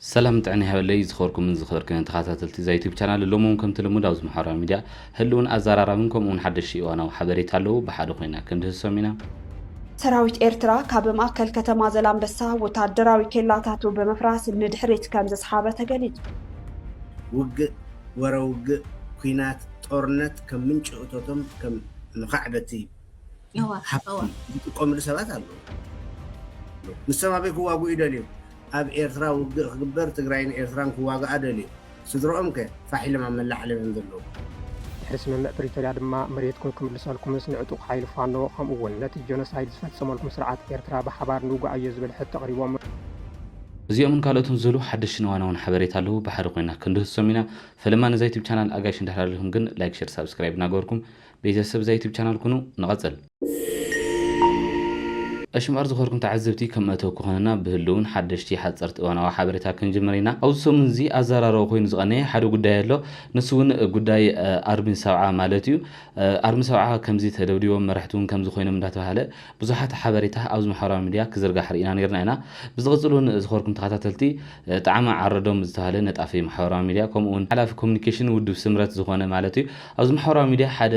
ሰላምን ጥዕና ይሃበለይ ዝኸበርኩምን ዝኸበርክንን ተኻታተልቲ እዛ ዩቱብ ቻናል ሎሚ እውን ከምቲ ልሙድ ኣብዚ ማሕበራዊ ሚድያ ህልውን ኣዛራራብን ከምኡ እውን ሓደሽቲ እዋናዊ ሓበሬታ ኣለዉ ብሓደ ኮይና ክንድህሶም ኢና ሰራዊት ኤርትራ ካብ ማእከል ከተማ ዘላንበሳ ወታደራዊ ኬላታቱ ብምፍራስ ንድሕሪት ከምዘስሓበ ተገሊጹ። ውግእ፣ ወረ ውግእ፣ ኲናት፣ ጦርነት ከም ምንጪ እቶቶም ከም መኻዕበቲ እዩ። ዝጥቀምሉ ሰባት ኣለ ንሶም ኣበይ ክዋግኡ ይደልዩ ኣብ ኤርትራ ውግእ ክግበር ትግራይን ኤርትራን ክዋግኣ ደልዩ ስድርኦም ከ ፋሕ ኢሎም ኣብ መላእ ዓለም እዮም ዘለዉ ድሕሪ ስምምዕ ፕሪቶርያ ድማ መሬትኩም ክምልሰልኩምስ ንዕጡቕ ሓይሊ ፋኖ ከምኡ እውን ነቲ ጀኖሳይድ ዝፈጸመልኩም ስርዓት ኤርትራ ብሓባር ንውግኣዮ ዝብል ሕቶ ኣቕሪቦም። እዚኦምን ካልኦትን ዝህሉ ሓደሽትን እዋናውን ሓበሬታ ኣለው ብሓደ ኮይና ክንድህሶም ኢና ፈለማ ነዛ ዩቱብ ቻናል ኣጋይሽ እንድሕር ኣልኩም ግን ላይክ ሸር ሳብስክራይብ እናገበርኩም ቤተሰብ እዛ ዩቱብ ቻናል ኩኑ ንቐጽል። እሺ እምበኣር ዝኸርኩም ተዓዘብቲ ከም መእተዊ ክኾነና ብህልውን ሓደሽቲ ሓጸርቲ እዋናዊ ሓበሬታ ክንጅምር ኢና። ኣብዚ ሰሙን እዚ ኣዘራራቢ ኮይኑ ዝቐነየ ሓደ ጉዳይ ኣሎ። ንሱ እውን ጉዳይ ኣርሚ ሰብዓ ማለት እዩ። ኣርሚ ሰብዓ ከምዚ ተደብዲቦም መራሕቲ እውን ከምዚ ኮይኖም እንዳተባሃለ ብዙሓት ሓበሬታ ኣብዚ ማሕበራዊ ሚድያ ክዝርጋሕ ርኢና ነይርና ኢና። ብዝቕጽል እውን ዝኸርኩም ተኸታተልቲ ጣዕመ ዓረዶም ዝተባሃለ ነጣፊ ማሕበራዊ ሚድያ ከምኡ እውን ሓላፊ ኮሙኒኬሽን ውድብ ስምረት ዝኾነ ማለት እዩ ኣብዚ ማሕበራዊ ሚድያ ሓደ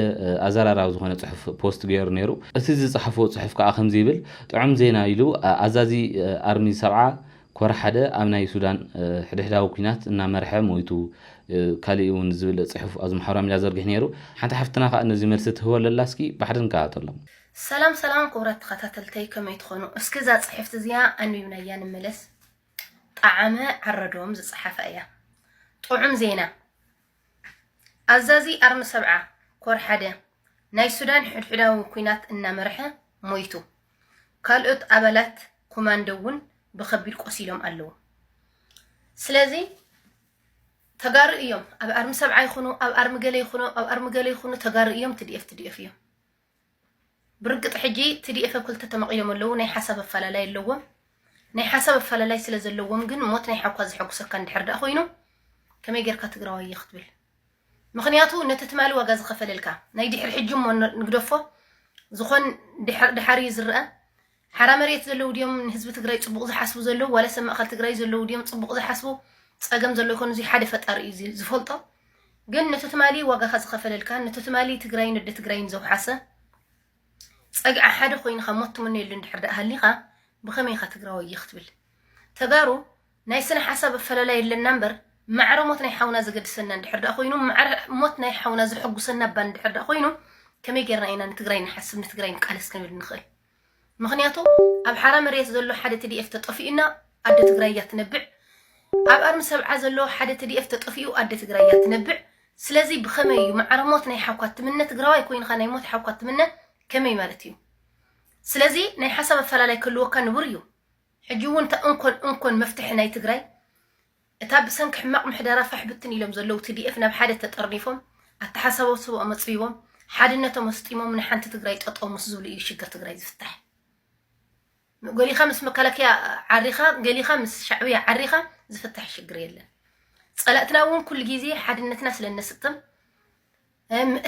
ኣዘራራቢ ዝኾነ ጽሑፍ ፖስት ገይሩ ነይሩ። እቲ ዝጸሓፎ ጽሑፍ ከኣ ከምዚ ይብል፣ ጥዑም ዜና ኢሉ ኣዛዚ ኣርሚ ሰብዓ ኮር ሓደ ኣብ ናይ ሱዳን ሕድሕዳዊ ኲናት እናመርሐ ሞይቱ ካሊእ እውን ዝብል ጽሑፍ ኣብዚ ማሕበራዊ ሚድያ ዘርጊሑ ነይሩ። ሓንቲ ሓፍትና ከኣ ነዚ መልሲ ትህቦ ኣለላ እስኪ ባሕድሪ ንከታተሎም። ሰላም ሰላም ክቡራት ተኸታተልተይ ከመይ ትኾኑ እስኪ እዛ ጽሕፍቲ እዚኣ ኣንቢብናያ ንመለስ ጠዓመ ዓረዶም ዝጸሓፋ እያ ጥዑም ዜና ኣዛዚ ኣርሚ ሰብዓ ኮር ሓደ ናይ ሱዳን ሕድሕዳዊ ኲናት እናመርሐ ሞይቱ፣ ካልኦት ኣባላት ኮማንዶ እውን ብኸቢድ ቆሲሎም ኣለዉ። ስለዚ ተጋሩ እዮም ኣብ ኣርሚ ሰብዓ ይኹኑ ኣብ ኣርሚ ገለ ይኹኑ ኣብ ኣርሚ ገለ ይኹኑ ተጋሩ እዮም፣ ትዲኤፍ ትዲኤፍ እዮም። ብርግጥ ሕጂ ቲዲኤፍ ኣብ ክልተ ተመቕዮም ኣለዉ። ናይ ሓሳብ ኣፈላላይ ኣለዎም። ናይ ሓሳብ ኣፈላላይ ስለ ዘለዎም ግን ሞት ናይ ሓኳ ዘሐጉሰካ እንድሕር ደኣ ኮይኑ ከመይ ጌርካ ትግራዋይ እየ ክትብል ምክንያቱ ነቲ ትማሊ ዋጋ ዝኸፈለልካ ናይ ድሕሪ ሕጂ እሞ ንግደፎ ዝኾን ድሓር እዩ ዝረአ ሓራ መሬት ዘለዉ ድዮም ንህዝቢ ትግራይ ፅቡቅ ዝሓስቡ ዘለዉ ዋላስ ኣብ ማእኸል ትግራይ ዘለዉ ድዮም ፅቡቅ ዝሓስቡ ፀገም ዘሎ ይኾን እዙይ ሓደ ፈጣሪ እዩ ዝ- ዝፈልጦ ግን ነቶ ትማሊ ዋጋኻ ዝኸፈለልካን ነቶ ትማሊ ትግራይን ወደ ትግራይን ዘውሓሰ ፀግዒ ሓደ ኮይንኻ ሞት ትምነየሉ እንድሕር ደኣ ሃሊኻ ብኸመይ ኢኻ ትግራዋይ እየ ክትብል ተጋሩ ናይ ስነ ሓሳብ ኣፈላላይ የለና እምበር ማዕረ ሞት ናይ ሓውና ዘገድሰና እንድሕር ደኣ ኮይኑ ማዕረ ሞት ናይ ሓውና ዘሐጉሰና እባ እንድሕር ደኣ ኮይኑ ከመይ ጌርና ኢና ንትግራይ ንሓስብ ንትግራይ ንቃለስ ክንብል ንኽእል ምኽንያቱ ኣብ ሓራ መርየት ዘሎ ሓደ ትዲኤፍ ተጠፊኡና ኣደ ትግራይ እያ ትነብዕ ኣብ ኣርሚ ሰብዓ ዘሎ ሓደ ትዲኤፍ ተጠፊኡ ኣደ ትግራይ እያ ትነብዕ ስለዚ ብኸመይ እዩ ማዕረ ሞት ናይ ሓውካ ትምነ ትግራዋይ ኮይንኻ ናይ ሞት ሓውካ ትምነ ከመይ ማለት እዩ ስለዚ ናይ ሓሳብ ኣፈላላይ ክህልወካ ንቡር እዩ ሕጂ እውን እታ እንኮን እንኮን መፍትሒ ናይ ትግራይ እታ ብሰንኪ ሕማቕ ምሕደራ ፋሕ ብትን ኢሎም ዘለዉ ትዲኤፍ ናብ ሓደ ተጠርኒፎም ኣተሓሳስባኦም ኣፅቢቦም ሓድነቶም ኣስጢሞም ንሓንቲ ትግራይ ጠጠው ምስ ዝብሉ እዩ ሽግር ትግራይ ዝፍታሕ። ገሊኻ ምስ መከላከያ ዓሪኻ ገሊኻ ምስ ሻዕብያ ዓሪኻ ዝፍታሕ ሽግር የለን። ፀላእትና እውን ኩሉ ግዜ ሓድነትና ስለ እነስጥም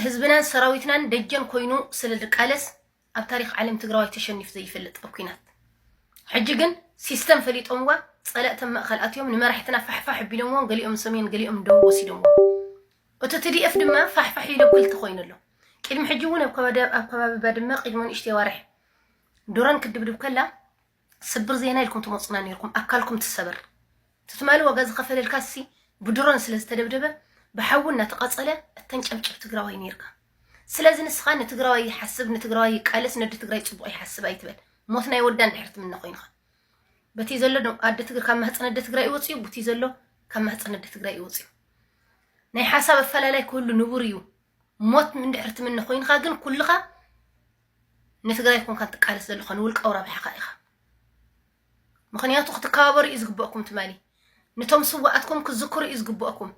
ህዝብናን ሰራዊትናን ደጀን ኮይኑ ስለ ዝቃለስ ኣብ ታሪኽ ዓለም ትግራዋይ ተሸኒፉ ዘይፈልጥ ኣብ ኩናት ሕጂ ግን ሲስተም ፈሊጦምዋ ፀለእተም መእኸል ኣትዮም ንመራሕትና ፋሕፋሕ ኣቢሎምዎም ገሊኦም ሰሜን ገሊኦም ንደቡብ ወሲዶምዎም እቲ ትዲኤፍ ድማ ፋሕፋሕ ኢሉ ኣብ ክልተ ኮይኑ ኣሎ ቅድሚ ሕጂ እውን ኣብ ከባቢ ባድመ ቅድሚ ንእሽተይ ኣዋርሕ ዱረን ክድብድብ ከላ ስብር ዜና ኢልኩም ትመጹና ኔርኩም ኣካልኩም ትሰበር ትትማሊ ዋጋ ዝኸፈልልካ ሲ ብድሮን ስለ ዝተደብደበ ብሓዊ እናተቃጸለ እተንጨብጭብ ትግራዋይ ኔርካ ስለዚ ንስኻ ንትግራዋይ ይሓስብ ንትግራዋይ ይቃለስ ነዲ ትግራይ ጽቡቕ ይሓስብ ኣይትበል ሞት ናይ ወዳ እንድሕር ትምነ ኮይንኻ በቲ ዘሎ ኣደ ትግር ካብ ማህፀን ኣደ ትግራይ ይወፅዩ ቡቲ ዘሎ ካብ ማህፀን ኣደ ትግራይ ይወፅዩ ናይ ሓሳብ ኣፈላላይ ክህሉ ንቡር እዩ ሞት እንድሕር ትምነ ኮይንካ ግን ኩልኻ ንትግራይ ኮንካ ትቃለስ ዘለኻ ንውልቃዊ ረብሓኻ ኢኻ ምክንያቱ ክትከባበሩ እዩ ዝግበእኩም ትማሊ ነቶም ስዋኣትኩም ክዝክሩ እዩ ዝግበእኩም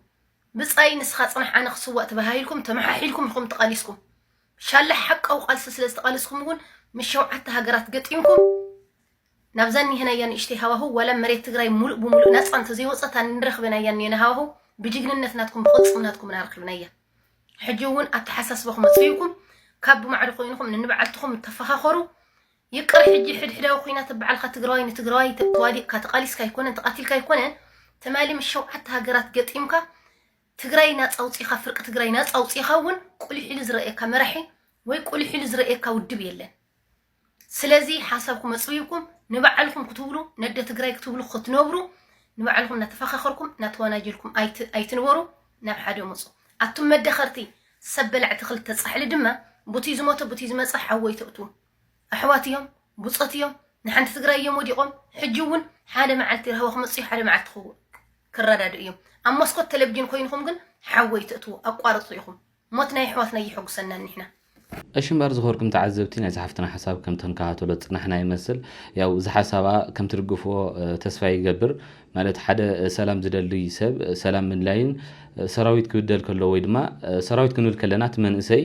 ብፃይ ንስኻ ፅናሕ ኣነ ክስዋእ ተባሂልኩም ተመሓሒልኩም ኢኹም ተቓሊስኩም ሻላ ሓቃዊ ቃልሲ ስለ ዝተቓልስኩም እውን ምስ ሸውዓተ ሃገራት ገጢምኩም ናብዛ ኒሄናያ ንእሽተይ ሃዋህው ዋላ መሬት ትግራይ ሙሉእ ብሙሉእ ናፃ እንተዘይወፀት ኣንረክበናያ ኒሄና ሃዋህው ብጅግንነት ናትኩም ብቕልፅምናትኩም ናረክብናያ ሕጂ ውን ኣተሓሳስባኹም ኣጽፊእኩም ካብ ብማዕዶ ኮይንኹም ንንባዓልትኹም ተፋኻኸሩ ይቅር ሕጂ ሕድሕዳዊ ኩናት ብባዕልካ ትግራዋይ ንትግራዋይ ተዋዲቕካ ተቓሊስካ ኣይኮነን ተቓቲልካ ኣይኮነን ትማሊ ምስ ሸውዓተ ሃገራት ገጢምካ ትግራይ ናፃ ኣውፂኻ ፍርቂ ትግራይ ናፃ ኣውፂኻ እውን ቁሊሕ ኢሉ ዝረእየካ መራሒ ወይ ቁሊሕ ኢሉ ዝረእየካ ውድብ የለን ስለዚ ሓሳብኩም ኣጽቢብኩም ንባዕልኩም ክትብሉ ነደ ትግራይ ክትብሉ ክትነብሩ ንባዕልኩም እናተፈኻኸርኩም እናተዋናጀልኩም ኣይትንበሩ ናብ ሓደ ምፁ ኣቱም መደኸርቲ ሰብ በላዕቲ ክልተ ፃሕሊ ድማ ቡቲ ዝሞተ ቡቲ ዝመፀ ሓወይ ተእቱ ኣሕዋት እዮም ብፆት እዮም ንሓንቲ ትግራይ እዮም ወዲቖም ሕጂ እውን ሓደ መዓልቲ ራህዋ ክመፅኡ ሓደ መዓልቲ ክረዳድኡ እዮም ኣብ መስኮት ቴሌቭዥን ኮይንኩም ግን ሓወይ ትእትዉ ኣቋርፁ ኢኹም ሞት ናይ ኣሕዋትና የሕጉሰና ኒሕና። እሺ እምበር ዝኸርኩም ተዓዘብቲ ናይዛ ሓፍትና ሓሳብ ከም ተንከታተሎ ዝጸናሕና ይመስል ያው እዚ ሓሳባ ከም ትድግፍዎ ተስፋ ይገብር ማለት ሓደ ሰላም ዝደሊ ሰብ ሰላም ምድላይን ሰራዊት ክብደል ከሎ ወይ ድማ ሰራዊት ክንብል ከለና እቲ መንእሰይ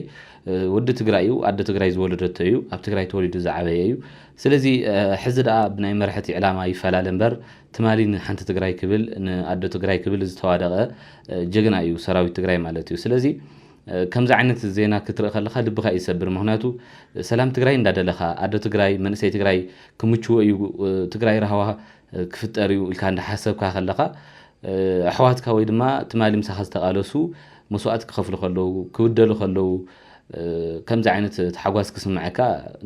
ወዲ ትግራይ እዩ ኣደ ትግራይ ዝወለደቶ እዩ ኣብ ትግራይ ተወሊዱ ዝዓበየ እዩ ስለዚ ሕዚ ደኣ ብናይ መርሐቲ ዕላማ ይፈላለ እምበር ትማሊ ንሓንቲ ትግራይ ክብል ንኣዶ ትግራይ ክብል ዝተዋደቐ ጀግና እዩ ሰራዊት ትግራይ ማለት እዩ። ስለዚ ከምዚ ዓይነት ዜና ክትርኢ ከለኻ ልብኻ እዩ ዝሰብር። ምክንያቱ ሰላም ትግራይ እንዳደለኻ ኣዶ ትግራይ መንእሰይ ትግራይ ክምችዎ እዩ ትግራይ ራህዋ ክፍጠር እዩ ኢልካ እንዳሓሰብካ ከለኻ ኣሕዋትካ ወይ ድማ ትማሊ ምሳኻ ዝተቓለሱ መስዋእቲ ክኸፍሉ ከለዉ ክብደሉ ከለዉ ከምዚ ዓይነት ተሓጓስ ክስምዐካ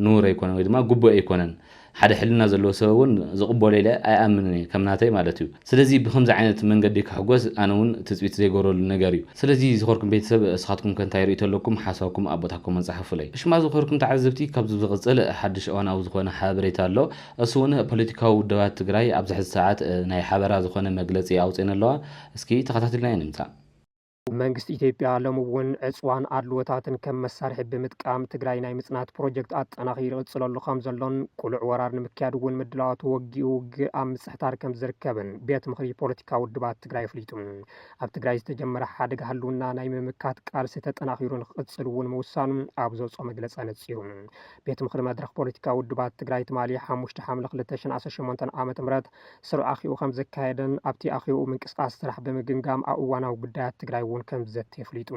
ንውር ኣይኮነን ወይ ድማ ግቡእ ኣይኮነን። ሓደ ሕልና ዘለዎ ሰብ ውን ዝቅበሎ ኢለ ኣይኣምንን እየ ከም ናተይ ማለት እዩ ስለዚ ብከምዚ ዓይነት መንገዲ ክሕጎስ ኣነ ውን ትጽቢት ዘይገብረሉ ነገር እዩ ስለዚ ዝከርኩም ቤተሰብ እስካትኩም ከ እንታይ ርእይቶ ኣለኩም ሓሳብኩም ኣብ ቦታ ኮመንት ጸሓፉለይ እሺ እማ ዝከርኩም ተዓዘብቲ ካብዚ ብዝቅጽል ሓድሽ እዋናዊ ዝኮነ ሓበሬታ ኣሎ እሱ ውን ፖለቲካዊ ውደባት ትግራይ ኣብዚ ሕዚ ሰዓት ናይ ሓበራ ዝኮነ መግለጺ ኣውጺኤን ኣለዋ እስኪ ተከታቲልና ኢና ንምጻእ። መንግስቲ ኢትዮጵያ ሎሚ እውን ዕፅዋን ኣድልዎታትን ከም መሳርሒ ብምጥቃም ትግራይ ናይ ምፅናት ፕሮጀክት ኣጠናኺሩ ይቕፅለሉ ከምዘሎን ቅሉዕ ወራር ንምክያድ እውን ምድላዋቱ ወጊኡ ውግእ ኣብ ምፅሕታር ከምዝርከብን ቤት ምኽሪ ፖለቲካዊ ውድባት ትግራይ ኣፍሊጡ። ኣብ ትግራይ ዝተጀመረ ሓደጋ ህልውና ናይ ምምካት ቃልሲ ተጠናኺሩ ንክቕፅል እውን ምውሳኑ ኣብ ዘውፅኦ መግለፂ ኣነፂሩ። ቤት ምኽሪ መድረኽ ፖለቲካዊ ውድባት ትግራይ ትማሊ ሓሙሽተ ሓምለ ክልተ ሽሕን ዓሰርተ ሸሞንተን ዓመተ ምህረት ስሩዕ ኣኼብኡ ከምዘካየደን ኣብቲ ኣኼብኡ ምንቅስቓስ ስራሕ ብምግምጋም ኣብ እዋናዊ ጉዳያት ትግራይ እውን ከምዝዘቲ ኣፍሊጡ።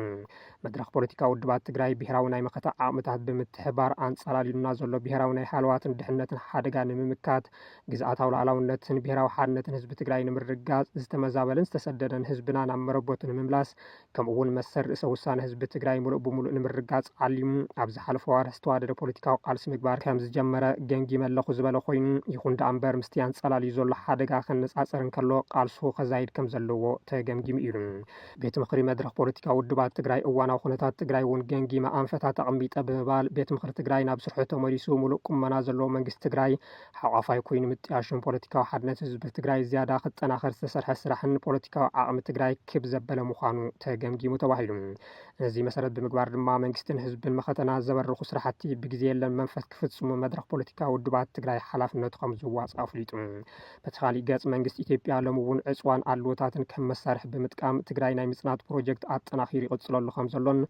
መድረኽ ፖለቲካዊ ውድባት ትግራይ ብሄራዊ ናይ መኸተ ዓቕምታት ብምትሕብባር ኣንፃላሊሉና ዘሎ ብሄራዊ ናይ ሃለዋትን ድሕነትን ሓደጋ ንምምካት፣ ግዝኣታዊ ሉኣላውነትን ብሄራዊ ሓድነትን ህዝቢ ትግራይ ንምርግጋፅ፣ ዝተመዛበለን ዝተሰደደን ህዝብና ናብ መረበቱ ንምምላስ ከምኡ'ውን መሰል ርእሰ ውሳነ ህዝቢ ትግራይ ምሉእ ብምሉእ ንምርግጋፅ ዓሊሙ ኣብ ዝሓለፉ ኣዋርሕ ዝተዋደደ ፖለቲካዊ ቃልሲ ምግባር ከምዝጀመረ ገምጊመ ኣለኹ ዝበለ ኮይኑ፣ ይኹን ደኣ እምበር ምስቲ ኣንፀላልዩ ዘሎ ሓደጋ ከነፃፅር እንከሎ ቃልሱ ከዛይድ ከምዘለዎ ተገምጊሙ ኢሉ። ቤት ምኽሪ መድረኽ ፖለቲካዊ ውድባት ትግራይ እዋናዊ ኩነታት ትግራይ እውን ገምጊመ ኣንፈታት ኣቐሚጠ ብምባል ቤት ምኽሪ ትግራይ ናብ ስርሑ ተመሊሱ ምሉእ ቁመና ዘለዎ መንግስቲ ትግራይ ሓቋፋይ ኮይኑ ምጥያሾም ፖለቲካዊ ሓድነት ህዝቢ ትግራይ ዝያዳ ክጠናኸር ዝተሰርሐ ስራሕን ፖለቲካዊ ዓቕሚ ትግራይ ክብ ዘበለ ምዃኑ ተገምጊሙ ተባሂሉ። ነዚ መሰረት ብምግባር ድማ መንግስትን ህዝብን መኸተና ዘበርኹ ስራሕቲ ብግዜ የለን መንፈስ ክፍፅሙ መድረኽ ፖለቲካዊ ውድባት ትግራይ ሓላፍነቱ ከም ዝዋፅእ ኣፍሊጡ። በቲ ካሊእ ገፅ መንግስቲ ኢትዮጵያ ሎሚ እውን ዕፅዋን ኣድልዎታትን ከም መሳርሒ ብምጥቃም ትግራይ ናይ ምፅናት ፕሮጀክት ኣጠናኺሩ ይቕፅለሉ ከም ዘሎን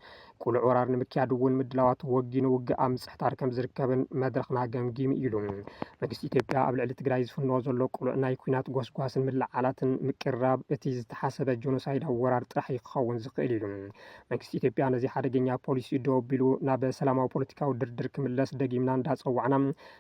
ቅሉዕ ወራር ንምክያድ እውን ምድላዋት ወጊኑ ውግእ ኣብ ምፅሕታር ከም ዝርከብን መድረኽና ገምጊሙ ኢሉ። መንግስቲ ኢትዮጵያ ኣብ ልዕሊ ትግራይ ዝፍንዎ ዘሎ ቅሉዕ ናይ ኩናት ጎስጓስን ምልዕዓላትን ምቅርራብ እቲ ዝተሓሰበ ጆኖሳይዳዊ ወራር ጥራሕ እዩ ክኸውን ዝኽእል ኢሉ። መንግስቲ ኢትዮጵያ ነዚ ሓደገኛ ፖሊሲኡ ደው ኣቢሉ ናብ ሰላማዊ ፖለቲካዊ ድርድር ክምለስ ደጊምና እንዳፀዋዕና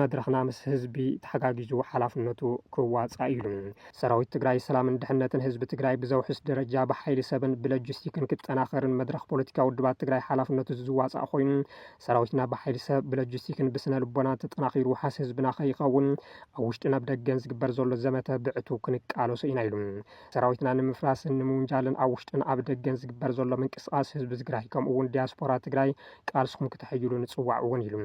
መድረኽና ምስ ህዝቢ ተሓጋጊዙ ሓላፍነቱ ክዋፃእ እዩ። ሰራዊት ትግራይ ሰላምን ድሕነትን ህዝቢ ትግራይ ብዘውሕስ ደረጃ ብሓይሊ ሰብን ብለጅስቲክን ክጠናኸርን መድረኽ ፖለቲካዊ ውድባት ትግራይ ሓላፍነቱ ዝዋፃእ ኮይኑ ሰራዊትና ብሓይሊ ሰብ፣ ብለጅስቲክን ብስነ ልቦናን ተጠናኺሩ ውሓስ ህዝብና ከይኸውን ኣብ ውሽጥን ኣብ ደገን ዝግበር ዘሎ ዘመተ ብዕቱብ ክንቃለሶ ኢና ኢሉ። ሰራዊትና ንምፍራስን ንምውንጃልን ኣብ ውሽጥን ኣብ ደገን ዝግበር ዘሎ ምንቅስቓስ ህዝቢ ትግራይ ከምኡ እውን ዲያስፖራ ትግራይ ቃልስኹም ክተሐይሉ ንፅዋዕ እውን ኢሉ።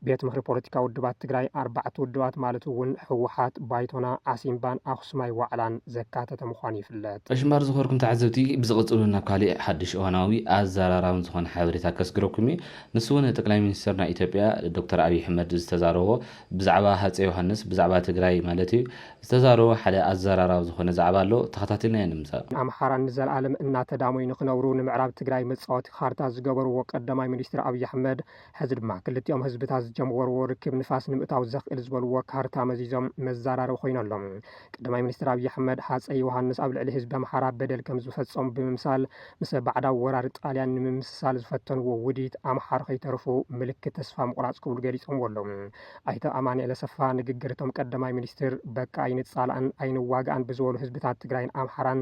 ቤት ምኽሪ ፖለቲካዊ ውድባት ትግራይ ኣርባዕተ ውድባት ማለት እውን ህወሓት፣ ባይቶና፣ ዓሲምባን ኣኽሱማይ ዋዕላን ዘካተተ ምዃኑ ይፍለጥ። ዕሽምባር ዝኸበርኩም ተዓዘብቲ ብዝቕጽሉ ናብ ካሊእ ሓዱሽ እዋናዊ ኣዘራራብን ዝኾነ ሓበሬታ ከስግረኩም እየ ንሱ ውን ጠቅላይ ሚኒስተርና ኢትዮጵያ ዶክተር ኣብይ ሕመድ ዝተዛረቦ ብዛዕባ ሃጼ ዮሃንስ ብዛዕባ ትግራይ ማለት እዩ ዝተዛረቦ ሓደ ኣዘራራብ ዝኾነ ዛዕባ ኣሎ ተኸታቲልናዮ ንምጻእ ኣምሓራ ንዘልኣለም እናተዳሞዩ ንኽነብሩ ንምዕራብ ትግራይ መጻወቲ ኻርታ ዝገበርዎ ቀዳማይ ሚኒስትር ኣብይ ኣሕመድ ሕዚ ድማ ክልቲኦም ህዝብታት ዝጀምወርዎ ርክብ ንፋስ ንምእታው ዘኽእል ዝበልዎ ካርታ መዚዞም መዛራረቢ ኮይኑ ኣሎ። ቀዳማይ ሚኒስትር ኣብይ ኣሕመድ ሃፀይ ዮሃንስ ኣብ ልዕሊ ህዝቢ ኣምሓራ በደል ከምዝፈፀሙ ብምምሳል ምሰ ባዕዳዊ ወራሪ ጣልያን ንምምስሳል ዝፈተንዎ ውዲት ኣምሓሩ ከይተርፉ ምልክት ተስፋ ምቑራፅ ክብሉ ገሊፆምዎ ኣለው። ኣይተ ኣማኒኤል ኣሰፋ ንግግር እቶም ቀዳማይ ሚኒስትር በቃ ኣይንፃላእን ኣይንዋጋእን ብዝበሉ ህዝብታት ትግራይን ኣምሓራን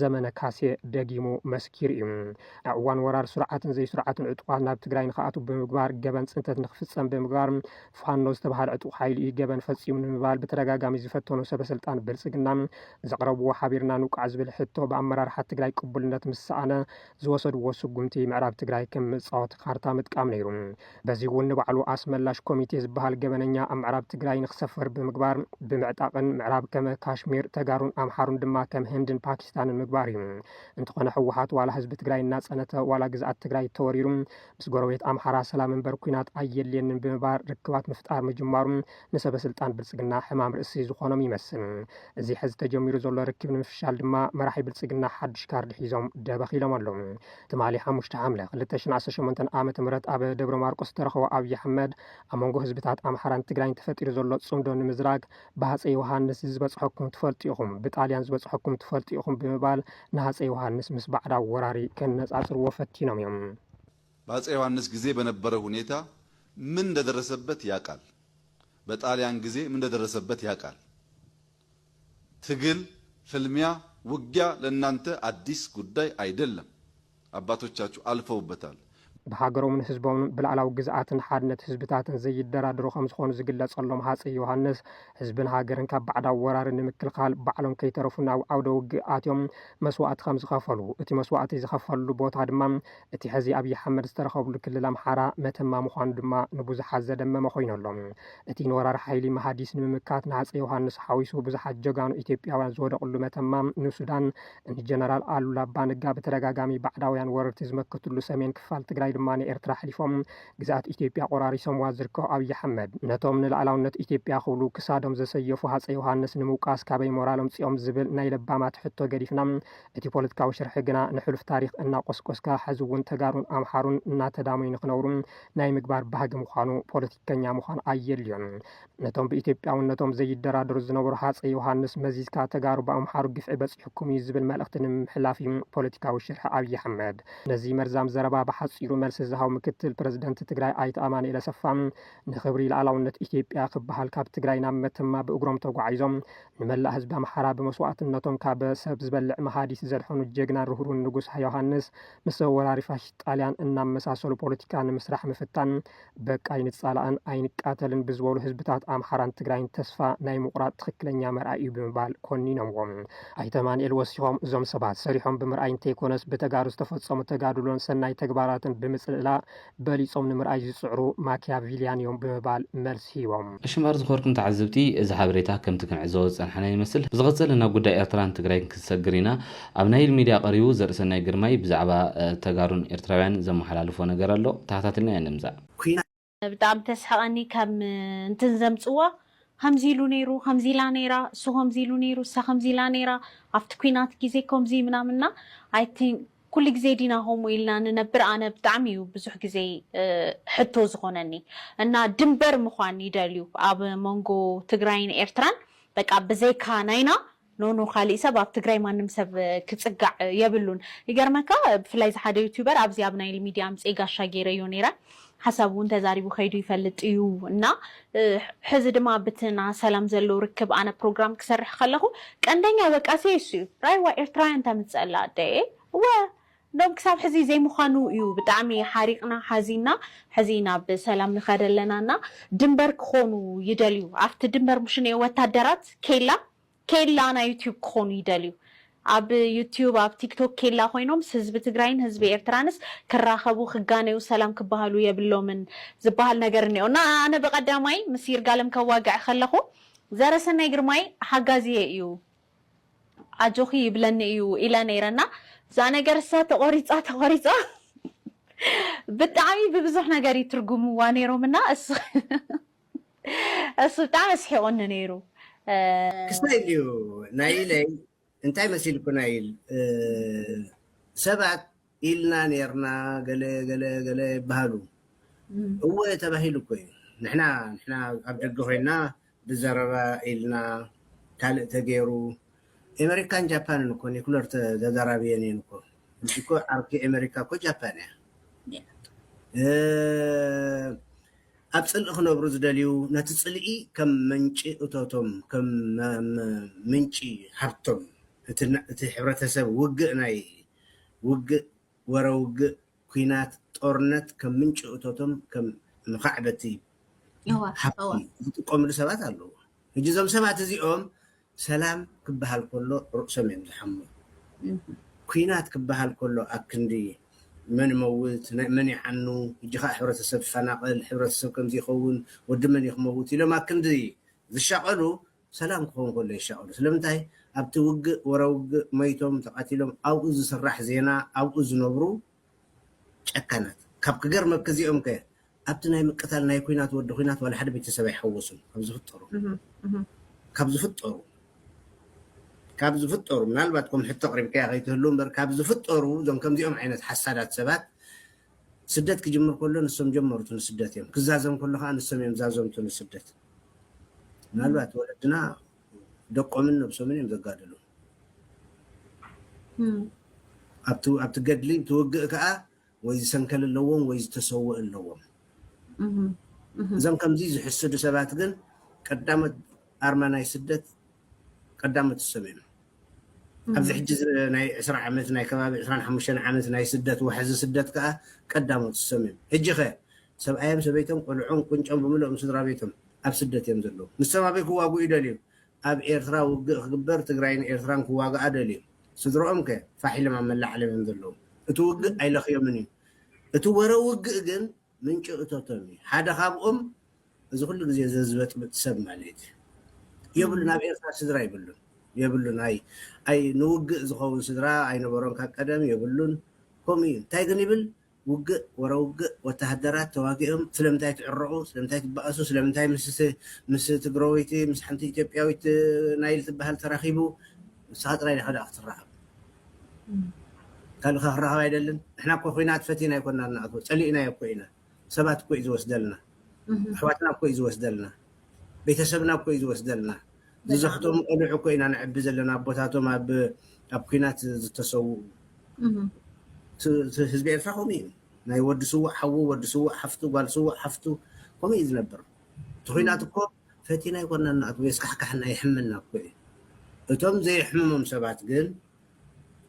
ዘመነ ካሴ ደጊሙ መስኪሩ እዩ። ኣብ እዋን ወራር ስሩዓትን ዘይስሩዓትን ዕጡቓት ናብ ትግራይ ንክኣትው ብምግባር ገበን ፅንተት ንክፍፀም ብምግባር ፋኖ ዝተብሃለ ዕጡቕ ሓይሊ እዩ ገበን ፈፂሙ ንምባል ብተደጋጋሚ ዝፈተኑ ሰበስልጣን ብልፅግና ዘቕረብዎ ሓቢርና ንውቃዕ ዝብል ሕቶ ብኣመራርሓ ትግራይ ቅቡልነት ምስ ሰኣነ ዝወሰድዎ ስጉምቲ ምዕራብ ትግራይ ከም መፃወቲ ካርታ ምጥቃም ነይሩ። በዚ እውን ንባዕሉ ኣስመላሽ ኮሚቴ ዝበሃል ገበነኛ ኣብ ምዕራብ ትግራይ ንክሰፍር ብምግባር ብምዕጣቕን ምዕራብ ከመ ካሽሚር ተጋሩን ኣምሓሩን ድማ ከም ህንድን ፓኪስታንን ምግባር እዩ። እንተኾነ ህወሓት ዋላ ህዝቢ ትግራይ እናፀነተ ዋላ ግዝኣት ትግራይ ተወሪሩ ምስ ጎረቤት ኣምሓራ ሰላም እምበር ኲናት ኣየድልየንን ብምባር ርክባት ምፍጣር ምጅማሩ ንሰበ ስልጣን ብልፅግና ሕማም ርእሲ ዝኾኖም ይመስል። እዚ ሕዚ ተጀሚሩ ዘሎ ርክብ ንምፍሻል ድማ መራሒ ብልፅግና ሓዱሽ ካርድ ሒዞም ደበኽ ኢሎም ኣለው። ትማሊ ሓሙሽተ ሓምለ ክልተ ሽሕን ዓሰርተ ሸሞንተን ዓመተ ምህረት ኣብ ደብረ ማርቆስ ዝተረኸቡ ኣብዪ ኣሕመድ ኣብ መንጎ ህዝብታት ኣምሓራን ትግራይን ተፈጢሩ ዘሎ ፅምዶ ንምዝራግ ብሃፀይ ዮሃንስ ዝበፅሐኩም ትፈልጡ ኢኹም፣ ብጣልያን ዝበፅሐኩም ትፈልጡ ኢኹም ብምባል ንሃፀይ ዮሃንስ ምስ ባዕዳዊ ወራሪ ከነፃፅርዎ ፈቲኖም እዮም። በሃፀይ ዮሃንስ ግዜ በነበረ ሁኔታ ምን እንደደረሰበት ያቃል፣ በጣልያን ግዜ ምን እንደደረሰበት ያቃል። ትግል፣ ፍልሚያ፣ ውጊያ ለናንተ ኣዲስ ጉዳይ ኣይደለም። ኣባቶቻቹ ኣልፈውበታል። ብሃገሮምን ህዝቦምን ብላእላዊ ግዝኣትን ሓድነት ህዝብታትን ዘይደራደሩ ከም ዝኾኑ ዝግለጸሎም ሃጸይ ዮሃንስ፣ ህዝብን ሃገርን ካብ ባዕዳዊ ወራሪ ንምክልኻል ባዕሎም ከይተረፉ ናብ ዓውደ ውግእ ኣትዮም መስዋእቲ ከም ዝኸፈሉ፣ እቲ መስዋእቲ ዝኸፈልሉ ቦታ ድማ እቲ ሕዚ ኣብዪ ኣሕመድ ዝተረኸብሉ ክልል ኣምሓራ መተማ ምዃኑ ድማ ንብዙሓት ዘደመመ ኮይኑ ኣሎ። እቲ ንወራሪ ሓይሊ መሃዲስ ንምምካት ንሃፀይ ዮሃንስ ሓዊሱ ብዙሓት ጀጋኑ ኢትዮጵያውያን ዝወደቕሉ መተማ ንሱዳን ንጀነራል ኣሉላ ኣባ ነጋ ብተደጋጋሚ ባዕዳውያን ወረርቲ ዝመከትሉ ሰሜን ክፋል ትግራይ ድማ ንኤርትራ ኣሕሊፎም ግዝኣት ኢትዮጵያ ቆራሪሶምዋ ዝርከቡ ኣብዪ ኣሕመድ ነቶም ንላእላውነት ኢትዮጵያ ክብሉ ክሳዶም ዘሰየፉ ሃፀይ ዮሃንስ ንምውቃስ ካበይ ሞራል ኣምፂኦም ዝብል ናይ ለባማት ሕቶ ገዲፍና እቲ ፖለቲካዊ ሽርሒ ግና ንሕሉፍ ታሪኽ እናቆስቆስካ ሐዚ እውን ተጋሩን ኣምሓሩን እናተዳመዩ ንክነብሩ ናይ ምግባር ባህጊ ምዃኑ ፖለቲከኛ ምዃን ኣየድልዮን። ነቶም ብኢትዮጵያውነቶም ዘይደራደሩ ዝነበሩ ሃፀይ ዮሃንስ መዚዝካ ተጋሩ ብኣምሓሩ ግፍዒ በፂሑኩም እዩ ዝብል መልእኽቲ ንምምሕላፍ እዩ ፖለቲካዊ ሽርሒ ኣብዪ ኣሕመድ። ነዚ መርዛም ዘረባ ብሓፂሩ መልሲ ዝሃቡ ምክትል ፕረዚደንት ትግራይ ኣይተ ኣማኑኤል ኣሰፋ ንኽብሪ ልኣላውነት ኢትዮጵያ ክበሃል ካብ ትግራይ ናብ መተማ ብእግሮም ተጓዒዞም ንመላእ ህዝቢ ኣምሓራ ብመስዋእትነቶም ካብ ሰብ ዝበልዕ መሃዲት ዘድሐኑ ጀግናን ርህሩን ንጉስ ዮሃንስ ምስ ወራሪ ፋሽስት ጣልያን እናመሳሰሉ ፖለቲካ ንምስራሕ ምፍታን በቃ ኣይንፃላእን ኣይንቃተልን ብዝበሉ ህዝብታት ኣምሓራን ትግራይን ተስፋ ናይ ምቑራፅ ትኽክለኛ መርኣይ እዩ ብምባል ኮኒኖምዎም። ኣይተ ኣማንኤል ወሲኾም እዞም ሰባት ሰሪሖም ብምርኣይ እንተይኮነስ ብተጋሩ ዝተፈፀሙ ተጋድሎን ሰናይ ተግባራትን ብምፅልላእ በሊጾም ንምርኣይ ዝጽዕሩ ማኪያቪልያን እዮም ብምባል መልሲ ሂቦም። እሽምባር ዝኸርኩ ንተዓዘብቲ እዚ ሓበሬታ ከምቲ ክንዕዘቦ ዝጸናሕና ይመስል። ብዝቕጽል ናብ ጉዳይ ኤርትራን ትግራይን ክንሰግር ኢና። ኣብ ናይል ሚድያ ቀሪቡ ዘርእሰናይ ግርማይ ብዛዕባ ተጋሩን ኤርትራውያን ዘመሓላልፎ ነገር ኣሎ ተኸታቲልና ኢና ንምጻእ። ብጣዕሚ ተስሕቀኒ ከም እንትን ዘምጽዋ ኸምዚ ኢሉ ነይሩ ኸምዚ ኢላ ነይራ እሱ ኸምዚ ኢሉ ነይሩ እሳ ኸምዚ ኢላ ነይራ ኣብቲ ኩናት ግዜ ከምዚ ምናምን እና ኣይ ቲንክ ኩሉ ግዜ ዲና ከምኡ ኢልና ንነብር ኣነ ብጣዕሚ እዩ ብዙሕ ግዜ ሕቶ ዝኾነኒ እና ድንበር ምዃን ይደልዩ ኣብ መንጎ ትግራይን ኤርትራን በቃ ብዘይካ ናይና ኖኖ ካሊእ ሰብ ኣብ ትግራይ ማንም ሰብ ክፅጋዕ የብሉን ይገርመካ ብፍላይ እዚ ሓደ ዩቱበር ኣብዚ ኣብ ናይል ሚድያ ኣምፅኤ ጋሻ ገይረዮ ነይረ ሓሳቡ እውን ተዛሪቡ ከይዱ ይፈልጥ እዩ እና ሕዚ ድማ ኣብቲ ና ሰላም ዘለው ርክብ ኣነ ፕሮግራም ክሰርሕ ከለኹ ቀንደኛ ወቃሴ እሱ እዩ ራይዋ ኤርትራውያን ተምፅእ ኣላ ኣደየ እወ ዶብ ክሳብ ሕዚ ዘይምዃኑ እዩ ብጣዕሚ ሓሪቕና ሓዚንና ሕዚ ናብ ሰላም ንኸድ ኣለና እና ድንበር ክኾኑ ይደልዩ ኣብቲ ድንበር ሙሽኔ ወታደራት ኬላ ኬላ ናይ ዩትዩብ ክኾኑ ይደልዩ ኣብ ዩትዩብ ኣብ ቲክቶክ ኬላ ኮይኖም ስህዝቢ ትግራይን ህዝቢ ኤርትራንስ ክራኸቡ ክጋነዩ ሰላም ክባሃሉ የብሎምን ዝባሃል ነገር እኒኦ እና ኣነ ብቐዳማይ ምስ ይርጋለም ከዋግዕ ከለኹ ዘረሰናይ ግርማይ ሓጋዚየ እዩ ኣጆኺ ይብለኒ እዩ ኢለ ነይረ እና እዛ ነገር እሳ ተቆሪፃ ተቆሪፃ ብጣዕሚ ብብዙሕ ነገር ይትርጉምዋ ነይሮም እና እሱ እሱ ብጣዕሚ ኣስሒቁኒ ነይሩ ክስታይ እዩ ናይ ኢለይ እንታይ መሲልኩና ኢል ሰባት ኢልና ኔርና ገለ ገለ ገለ ይበሃሉ እወ ተባሂሉ እኮ እዩ ንሕና ንሕና ኣብ ደገ ኮይና ብዘረባ ኢልና ካልእ ተገይሩ ኤመሪካን ጃፓንን እኮ ኒኩለር ተዘራርቢየን እየን እኮ ሕጂ እኮ ዓርኪ ኤመሪካ እኮ ጃፓን እያ እ ኣብ ፅልኢ ክነብሩ ዝደልዩ ነቲ ፅልኢ ከም ምንጪ እቶቶም ከም ምንጪ ሃብቶም እቲ ሕብረተሰብ ውግእ ናይ ውግእ፣ ወረ ውግእ፣ ኩናት፣ ጦርነት ከም ምንጪ እቶቶም ከም መኻዕበቲ ሃብቲ ዝጥቀምሉ ሰባት ኣለዉ። ሕጂ እዞም ሰባት እዚኦም ሰላም ክበሃል ከሎ ርእሶም እዮም ዝሓሙ። ኩናት ክበሃል ከሎ ኣክንዲ መን ይመውት፣ መን ይዓኑ፣ ሕጂ ከኣ ሕብረተሰብ ይፈናቐል፣ ሕብረተሰብ ከምዚ ይኸውን፣ ወዲ መን እዩ ክመውት ኢሎም ኣክንዲ ዝሻቐሉ ሰላም ክኸውን ከሎ ይሻቀሉ ስለምንታይ ኣብቲ ውግእ ወረ ውግእ መይቶም ተቀቲሎም ኣብኡ ዝስራሕ ዜና ኣብኡ ዝነብሩ ጨካናት ካብ ክገርመኪ እዚኦም ከ ኣብቲ ናይ ምቅታል ናይ ኩናት ወዲ ኩናት ዋላ ሓደ ቤተሰብ ኣይሓወሱን ካብ ዝፍጠሩ ካብ ዝፍጠሩ ካብ ዝፍጠሩ ምናልባት ከም ሕቶ ኣቅሪብካያ ከይትህሉ እምበር ካብ ዝፍጠሩ እዞም ከምዚኦም ዓይነት ሓሳዳት ሰባት ስደት ክጅምር ከሎ ንሶም ጀመርቱ ንስደት እዮም ክዛዘም ከሎ ከኣ ንሶም እዮም ዛዘምቱ ንስደት ምናልባት ወለድና ደቆምን ነብሶምን እዮም ዘጋድሉ ኣብቲ ኣብቲ ገድሊ እቲ ውግእ ከኣ ወይ ዝሰንከል ኣለዎም ወይ ዝተሰውእ ኣለዎም እዞም ከምዚ ዝሕስዱ ሰባት ግን ቀዳሞት ኣርማ ናይ ስደት ቀዳሞት እሶም እዮም። ኣብዚ ሕጂ ናይ ዕስራ ዓመት ናይ ከባቢ ዕስራን ሓሙሽተን ዓመት ናይ ስደት ዋሕዚ ስደት ከኣ ቀዳሞት እሶም እዮም። ሕጂኸ ሰብኣዮም ሰበይቶም ቆልዖም ቁንጮም ብምልኦም ስድራቤቶም ኣብ ስደት እዮም ዘለዉ። ንሶም ኣበይ ክዋግኡ ይደልዩ? ኣብ ኤርትራ ውግእ ክግበር ትግራይን ኤርትራን ክዋግኣ ደልዩ። ስድርኦምከ ፋሕ ኢሎም ኣብ መላዓዕሎም እዮም ዘለዉ። እቲ ውግእ ኣይለኽዮምን እዩ። እቲ ወረ ውግእ ግን ምንጩ እቶቶም እዩ ሓደ ካብኦም እዚ ኩሉ ግዜ ዘዝበጥብጥ ሰብ ማለት እዩ የብሉን ኣብ ኤርትራ ስድራ የብሉን የብሉን ኣይ ኣይ ንውግእ ዝኸውን ስድራ ኣይነበሮን ካብ ቀደም የብሉን ከምኡ እዩ እንታይ ግን ይብል ውግእ ወረ ውግእ ወተሃደራት ተዋጊኦም ስለምንታይ ትዕረቑ ስለምንታይ ትባኣሱ ስለምንታይ ምስ ምስ ትግረወይቲ ምስ ሓንቲ ኢትዮጵያዊት ናይል ትባሃል ተራኺቡ ንስኻ ጥራይ ዲኻ ደኣ ክትራኸብ ካልእ ከ ክራከብ ኣይደልን ንሕና እኮ ኩናት ፈቲና ኣይኮናን ንኣትዎ ጸሊእናዮ እኮ ኢና ሰባት እኮ እዩ ዝወስደልና ኣሕዋትና እኮ እዩ ዝወስደልና ቤተሰብና እኮ እዩ ዝወስደልና ዝዘኽተሙ ቆልዑ እኮ ኢና ንዕቢ ዘለና ኣቦታቶም ኣብ ኣብ ኩናት ዝተሰውኡ ህዝቢ ኤርትራ ከምኡ እዩ ናይ ወዲ ስውእ ሓዉ ወዲ ስውእ ሓፍቱ ጓል ስውእ ሓፍቱ ከምኡ እዩ ዝነብር እቲ ኩናት እኮ ፈቲና ኣይኮናን ንኣትዎ የስካሕክሓና የሕመና እኮ እዩ እቶም ዘየሕምሞም ሰባት ግን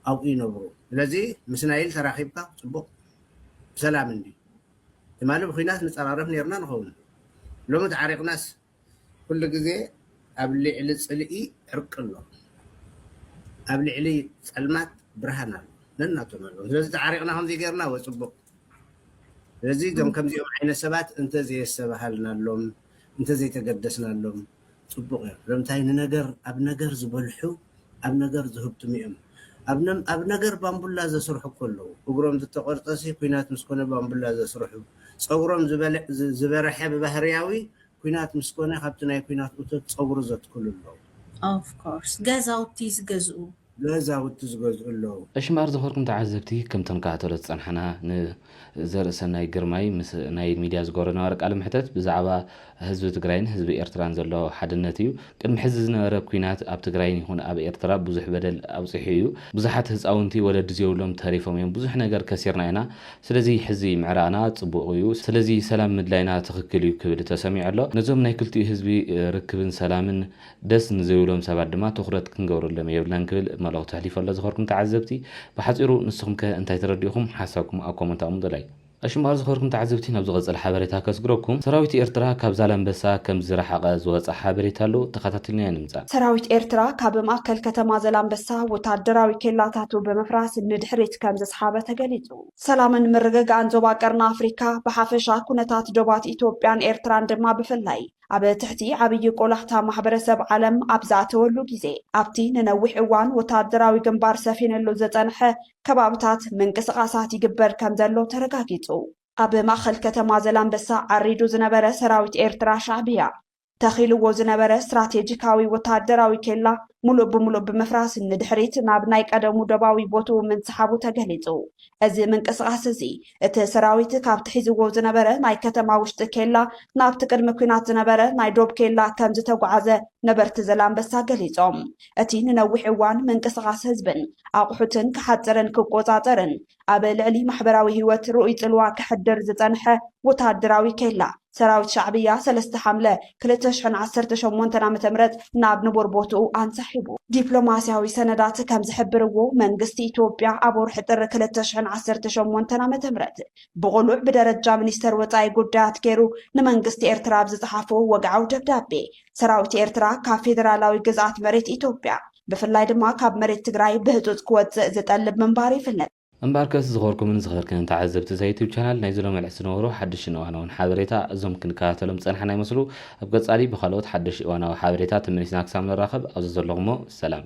ኣብኡ ይነብሩ ስለዚ ምስ ናይል ተራኪብካ ፅቡቅ ብሰላም እንድዩ ትማሊ ብኩናት ንፀራረፍ ነይርና ንከውን ሎሚ ተዓሪቅናስ ኩሉ ግዜ ኣብ ሊዕሊ ፅልኢ ዕርቂ ኣሎ ኣብ ሊዕሊ ፀልማት ብርሃን ኣሎ ነናቶም ኣለዉ ስለዚ ተዓሪቅና ከምዚ ገይርና እወ ፅቡቅ ስለዚ እዞም ከምዚኦም ዓይነት ሰባት እንተዘየስተብሃልናሎም እንተዘይተገደስናሎም ፅቡቕ እዮም። ስለምንታይ ንነገር ኣብ ነገር ዝበልሑ ኣብ ነገር ዝህብትሙ እዮም። ኣብ ነገር ባንቡላ ዘስርሑ እኮ ኣለዉ። እግሮም ዝተቖርፀሲ ኲናት ምስ ኮነ ባንቡላ ዘስርሑ፣ ፀጉሮም ዝበርሐ ብባህርያዊ ኩናት ምስ ኮነ ካብቲ ናይ ኩናት እቶት ጸጉሩ ዘትክሉ ኣለዉ። Of course ገዛውቲ ዝገዝኡ። ገዛውቲ ዝገዝኡ ኣለዉ። እሺ እምበኣር ዝኸርኩም ተዓዘብቲ ከምቲ ንከታተሎ ዝጸናሕና ን ዘርእሰናይ ግርማይ ምስ ናይ ሚድያ ዝገበሮ ዝነበረ ቃለ መሕተት ብዛዕባ ህዝቢ ትግራይን ህዝቢ ኤርትራን ዘሎ ሓድነት እዩ ቅድሚ ሕዚ ዝነበረ ኲናት ኣብ ትግራይን ይኹን ኣብ ኤርትራ ብዙሕ በደል ኣብጺሑ እዩ ብዙሓት ህጻውንቲ ወለዲ ዘይብሎም ተሪፎም እዮም ብዙሕ ነገር ከሲርና ኢና ስለዚ ሕዚ ምዕራቕና ጽቡቕ እዩ፣ ስለዚ ሰላም ምድላይና ትኽክል እዩ ክብል ተሰሚዑ ኣሎ። ነዞም ናይ ክልቲኡ ህዝቢ ርክብን ሰላምን ደስ ንዘይብሎም ሰባት ድማ ትኹረት ክንገብረሎም የብልናን ክብል መልእኽቱ ኣሕሊፉ ኣሎ። ዝኸርኩም ተዓዘብቲ ብሓጺሩ ንስኹምከ እንታይ ተረዲእኹም? ሓሳብኩም ኣብ ኮመንት ኣቕምጡለይ። እሺ እምበኣር ዝኸርኩም ተዓዘብቲ ናብ ዝቕጽል ሓበሬታ ከስግረኩም። ሰራዊት ኤርትራ ካብ ዛላምበሳ ከም ዝረሓቐ ዝወጸ ሓበሬታ ኣሎ፣ ተኸታቲልናዮ ንምጻእ። ሰራዊት ኤርትራ ካብ ማእከል ከተማ ዘላምበሳ ወታደራዊ ኬላታቱ ብምፍራስ ንድሕሪት ከም ዘስሓበ ተገሊጹ። ሰላምን ምርግጋእን ዞባ ቀርኒ ኣፍሪካ ብሓፈሻ ኩነታት ዶባት ኢትዮጵያን ኤርትራን ድማ ብፍላይ ኣብ ትሕቲ ዓብዪ ቆላሕታ ማሕበረሰብ ዓለም ኣብ ዝኣተወሉ ግዜ ኣብቲ ንነዊሕ እዋን ወታደራዊ ግንባር ሰፊንሉ ዝፀንሐ ከባብታት ምንቅስቓሳት ይግበር ከም ዘሎ ተረጋጊፁ። ኣብ ማእኸል ከተማ ዘላንበሳ ዓሪዱ ዝነበረ ሰራዊት ኤርትራ ሻዕብያ ተኺልዎ ዝነበረ ስትራቴጂካዊ ወተሃደራዊ ኬላ ሙሉእ ብሙሉእ ብምፍራስ ንድሕሪት ናብ ናይ ቀደሙ ዶባዊ ቦትኡ ምንስሓቡ ተገሊፁ። እዚ ምንቅስቓስ እዚ እቲ ሰራዊት ካብቲ ሒዝዎ ዝነበረ ናይ ከተማ ውሽጢ ኬላ ናብቲ ቅድሚ ኲናት ዝነበረ ናይ ዶብ ኬላ ከምዝተጉዓዘ ነበርቲ ዘላንበሳ ገሊፆም። እቲ ንነዊሕ እዋን ምንቅስቓስ ህዝብን ኣቑሑትን ክሓፅርን ክቆፃፀርን ኣብ ልዕሊ ማሕበራዊ ህይወት ርኡይ ጽልዋ ከሕድር ዝጸንሐ ወተሃደራዊ ኬላ፣ ሰራዊት ሻዕብያ ሰለስተ ሓምለ ክልተ ሽሕን ዓሰርተ ሸሞንተን ዓመተ ምህረት ናብ ንቡር ቦትኡ ኣንሳሒቡ። ዲፕሎማስያዊ ሰነዳት ከም ዝሕብርዎ፣ መንግስቲ ኢትዮጵያ ኣብ ወርሒ ጥሪ ክልተ ሽሕን ዓሰርተ ሸሞንተን ዓመተ ምህረት ብቕሉዕ ብደረጃ ሚኒስተር ወጻኢ ጉዳያት ገይሩ ንመንግስቲ ኤርትራ ኣብ ዝጸሓፎ ወግዓዊ ደብዳቤ፣ ሰራዊት ኤርትራ ካብ ፌደራላዊ ግዝኣት መሬት ኢትዮጵያ ብፍላይ ድማ ካብ መሬት ትግራይ ብህፁፅ ክወፅእ ዝጠልብ ምንባሩ ይፍለጥ። እምበኣርከስ ዝኸበርኩምን ዝኸበርክንን ተዓዘብቲ እዛ ዩቱብ ቻናል ናይዚ ሎሚ ዕለት ዝነበሩ ሓድሽን እዋናውን ሓበሬታ እዞም ክንከታተሎም ዝፀናሕና ይመስሉ። ኣብ ቀፃሊ ብኻልኦት ሓደሽቲ እዋናዊ ሓበሬታ ተመሊስና ክሳብ ንራኸብ ኣብዚ ዘለኹሞ ሰላም።